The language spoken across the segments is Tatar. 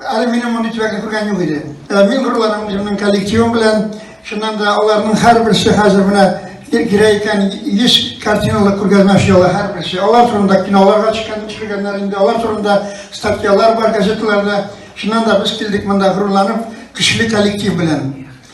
Әле минем мондый төбәкне күргән юк иде. Ә мин горурланам үземнең коллективым белән. Шуннан да аларның һәрберсе хәзер менә кирәк икән 100 картиналык күргәзмә эшләве һәрберсе. Алар турында киноларга чыккан төшергәннәр инде, алар турында статьялар бар газеталарда. Шуннан да без килдек монда горурланып, көчле коллектив белән.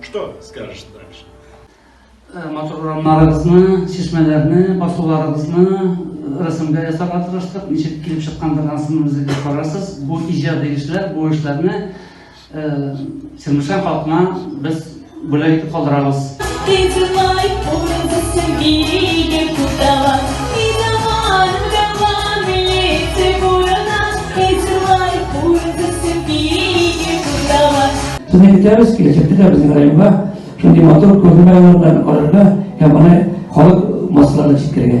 Что скажешь дальше? Э, матур урамнарыгызны, чишмәләрне, басуларыгызны э, рәсемгә ясарга тырыштык. Ничек килеп чыккандыр ансын үзегез карарсыз. Бу иҗади эшләр, бу эшләрне э, Сирмешән халкына без бүләк итеп калдырабыз. Сезне көтәбез, киләчәктә дә безнең районга шундый матур күргәзмә алардан карарга һәм аны халык массаларына җиткерергә.